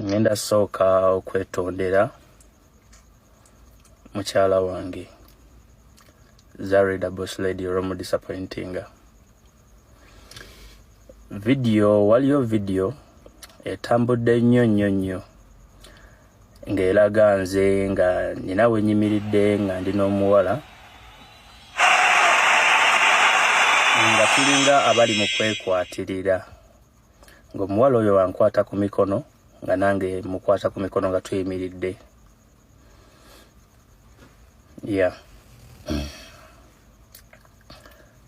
ngenda sooka okwetondera mukyala wange zarida boss lady olwomu disappointinga vidiyo waliyo vidiyo etambudde nnyo nnyo nnyo ng'eraga nze nga nina wenyimiridde nga ndi n'omuwala nga tulinga abali mu kwekwatirira ng'omuwala oyo wankwata ku mikono nga nange mukwata ku mikono nga tuyimiridde ya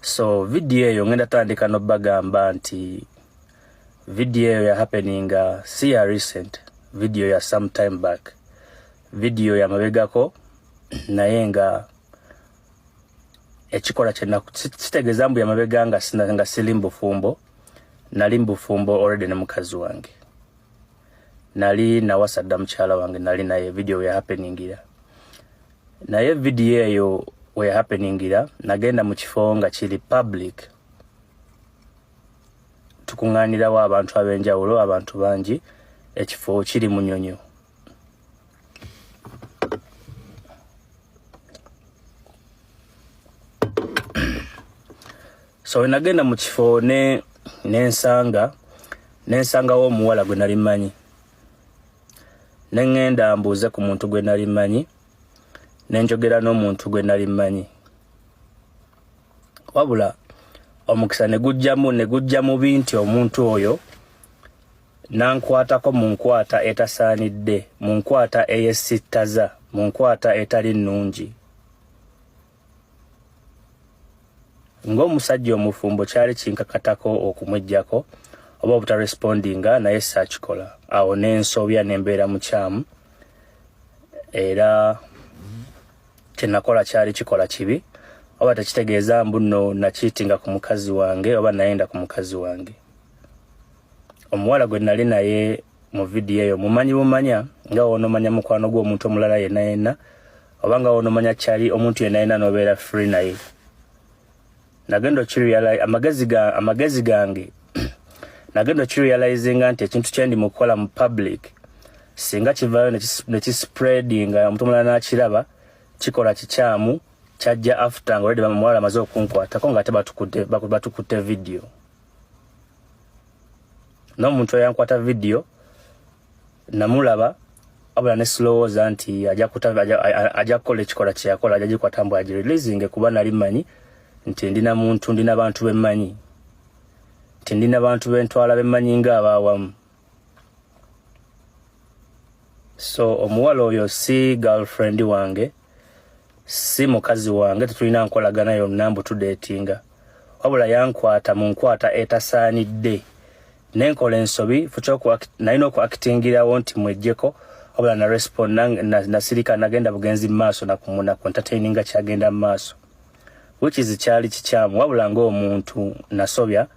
so vidiyo eyo ngenda tandika nobagamba nti vidiyo eyo ya happeninga si ya recent vidiyo ya some time back vidiyo yamabegako naye nga ekikola kyenaku kitegeeza mbu yamabega nga sili mubufumbo nali mbufumbo already ne mukazi wange nali nawasa dda mukyala wange nali naye video we happeningira naye video eyo we happeningira nagenda mu kifo nga kiri public tukuŋŋaanirawo abantu ab'enjawulo abantu bangi ekifo kiri munyonyo so wenagenda mu kifo ne nensanga nensangawo omuwala gwe nali manyi nengenda mbuuze ku muntu gwe nali manyi nenjogera n'omuntu gwe nali manyi wabula omukisa ne gujjamu ne gujja mubi nti omuntu oyo nankwatako mu nkwata etasaanidde mu nkwata eyesittaza mu nkwata etali nnungi ng'omusajja omufumbo kyali kinkakatako okumwejjako oba obutarespondinga naye saakikola awo n'ensoobya ne mbeera mukyamu era kye nakola kyali kikola kibi oba tekitegeeza mbu no nakiitinga ku mukazi wange oba nayenda ku mukazi wange omuwala gwe nali naye mu vidiyo eyo mumanyi bumanya nga wonomanya mukwano gwo omuntu omulala yena yena oba nga wonomanya kyali omuntu yena yena nobeera free naye nagenda okirealize amagezi ga amagezi gange nagenda okirealizinga nti ekintu kyendi mukukola mu public singa kivayo nekispreadinga omuntu omulala nakiraba kikola kikyamu kyajja after nga oledi bamuwala amaze okunkwatako nga ate batukutte batukutte vidiyo n'omuntu eyankwata vidiyo namulaba wabula ne silowooza nti ajja kukola ekikola kye yakola ajja gikwata mbu agireleasinge kuba nali mmanyi nti ndi na muntu ndi na bantu be mmanyi nti ndi na bantu be ntwala be mmanyi ng'abaawamu so omuwala oyo si girlfriend wange si mukazi wange tetulina nkolagana yonna mbu tudeetinga wabula yankwata mu nkwata etasaanidde nenkola ensobi nalina okuakitingirawo nti mwejjeko wabula na respond nasirika nagenda bugenzi mu maaso nakumunako entertaininga kyagenda mu maaso which is kyali kikyamu wabula ngaomuntu nasobya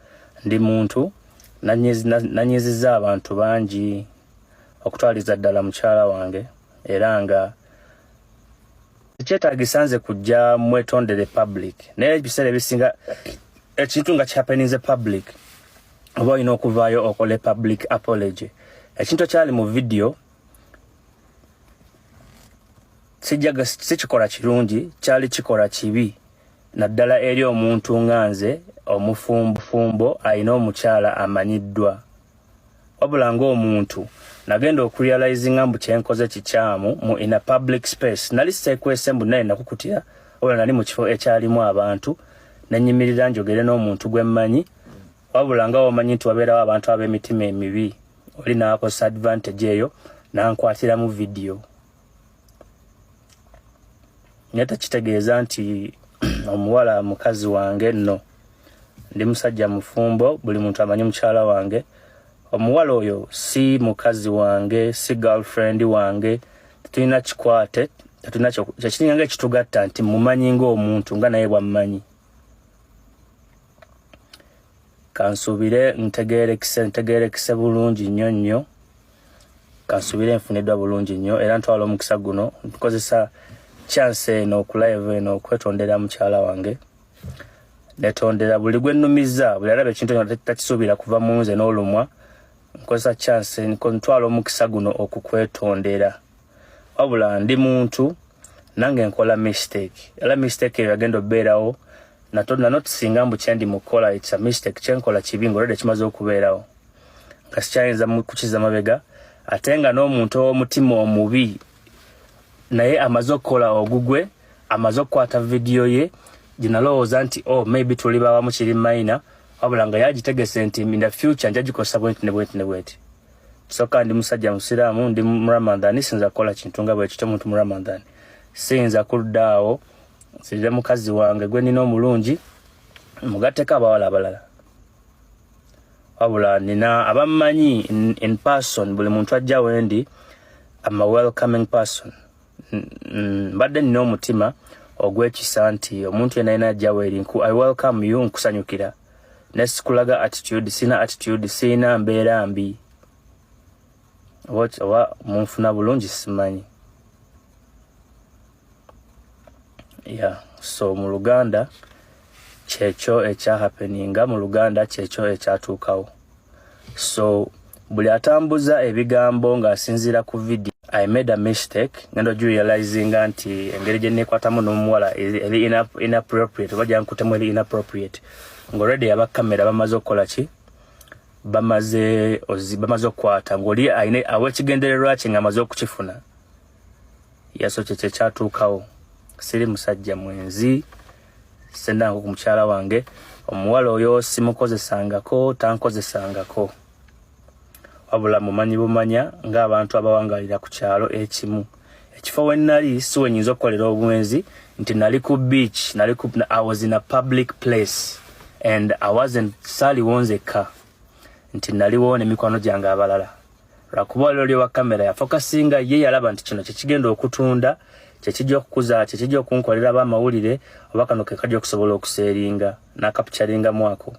ndi muntu nanyiziza abantu bangi okutwaliza ddala mukyala wange era nga kyetagisa nze kujja mwetondere public naye ebiseera ebisinga ekintu nga kihappeninze public oba olina okuvaayo okole public apology ekintu ekyali mu vidiyo sijjaga sikikola kirungi kyali kikola kibi naddala eri omuntu nga nze omufumbufumbo alina omukyala amanyiddwa wabula ng'omuntu nagenda okurealizinga mbu kyenkoze kikyamu mu in a public space nali sekwese mbu naye nakukutira wabula nali mu kifo ekyalimu abantu nenyimirira njogere n'omuntu gwe mmanyi wabula nga wamanyi nti wabeerawo abantu ab'emitima emibi oli naakozesa advantage eyo nankwatiramu vidiyo naye tekitegeeza nti omuwala mukazi wange nno ndi musajja mufumbo buli muntu amanyi mukyala wange omuwala oyo si mukazi wange si girlfriend wange tetulina kikwate tetulina kyekiringa nga ekitugatta nti mumanyi ngaomuntu nga naye bwammanyi kansuubire ntegeerekise ntegeerekise bulungi nnyo nnyo kansubire nfuniddwa bulungi nnyo era ntwala omukisa guno nkozesa chance eno okulayeva eno okwetondera mukyala wange netondera buli gwe nnumizza buli alaba ekintu eno takisuubira kuva mu nze n'olumwa nkozesa chance ntwala omukisa guno okukwetondera wabula ndi muntu nange nkola mistake era mistake eyo yagenda obeerawo natodna not singa mbu kyendi mukola it's a mistake kyenkola kibi ngaolwedde kimaze okubeerawo nga sikyayinza kukiza mabega ate nga n'omuntu ow'omutima omubi naye amaze okukola ogugwe amaze okukwata vidiyo ye gyenalowooza nti o oh, maybe tuli bawamu kiri mayina wabula nga yagitegese nti in the future nja gikozesa bwenti ne bwenti ne bwenti soka ndi musajja musiraamu ndi muramadhani sinza kukola kintu nga bwekityo muntu muramadhani siyinza kudda awo nsirire mukazi wange gwe nina omulungi mugatteko abawala abalala wabula nina abammanyi in, in person buli muntu ajja wendi am a welcoming person mbadde nina omutima ogwekisa nti omuntu yena yena ajja weri nku i welcome you nkusanyukira nesikulaga attitude sina attitude sina mbeera mbi oba munfuna bulungi simanyi yeah so mu luganda kyekyo ekyahapeninga mu luganda kyekyo ekyatuukawo so buli atambuza ebigambo ng'asinziira ku video i made a mistake ngenda ogirealizinga nti engeri gye neekwatamu n'omuwala eri inappropriate oba gyankutemu eri inappropriate ng'olredi aba kamera bamaze okukola ki bamaze bamaze okukwata ng'oli awa ekigendererwa kye ng'amaze okukifuna Yesu kye kye kyatuukawo siri musajja mwenzi sendanko ku mukyala wange omuwala oyo simukozesangako tankozesangako wabula mumanyi bumanya ng'abantu abawangalira ku kyalo ekimu ekifo we nali si wenyinza okukolera obwenzi nti nali ku beach nali ku i was in a public place and i wasn't saliwonzekka nti naliwo nemikwano gyange abalala lwakuba olwo lyowa kamera yafokasinga ye yalaba nti kino kyekigenda okutunda kyekijja okukuza kyekijja okunkolera aba amawulire oba kano kekajja okusobola okuseeringa nakapukyaringamu ako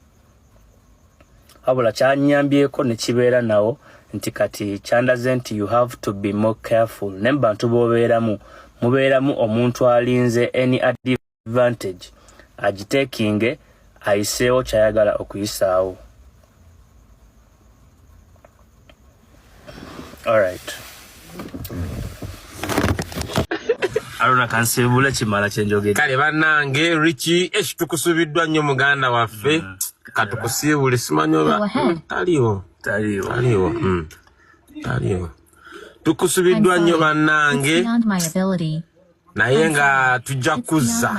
wabula kyanyambyeko nekibeera nawo nti kati kyandaze nti you have to be more careful naye mubantu bobeeramu mubeeramu omuntu alinze any advice advantage agitekinge ayiseewo kyayagala okuyisaawo alright alona kansimbule kimala kyenjogere kale banange richi esh tukusubiddwa nnyo muganda waffe mm. katukusiibule simanyi oba taliwo taliwo taliwo mm. taliwo tukusubiddwa nnyo bannange naye nga tujja kuzza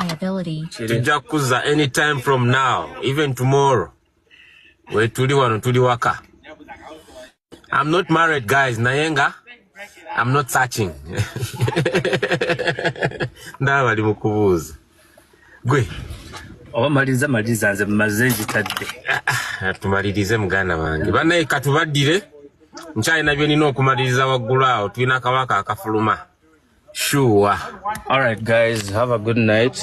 tujja kuzza anytime from now even tomorrow wetuli wano tuli waka i'm not married guys naye nga i'm not searching ndaba bali mu kubuuza gwe oba maliriza maliriza nze maze nkitadde ah, ah, tumalirize muganda wange banaye katubaddire nkyalina byonina okumaliriza waggulu awo tulina akabaka akafuluma Sure. All right, guys, have a good night.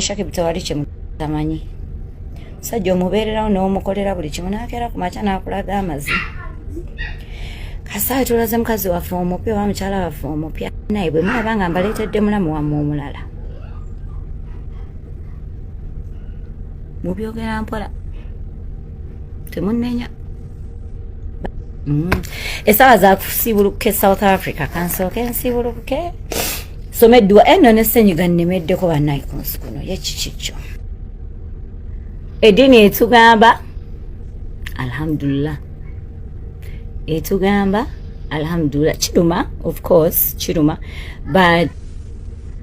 Shaki bitawali kimu tamanyi. Sajja omubeererawo n'omukolera buli kimu n'akeera ku makya n'akulaga amazi. Kasaayi tulaze mukazi waffe omupya oba mukyala waffe omupya naye bwe mulaba nga mbaleetedde mulamu wammwe omulala. Mubyogera mpola. Temunnenya. Mm. esawa zakusibuluka e south africa kansooke nsibuluke soma edduwa eno eh, nesenyiga nnemeddeko banayi ku nsi kuno yekikikyo eddiini etugamba alhamdulillah etugamba alhamdulillah kiruma of course kiruma but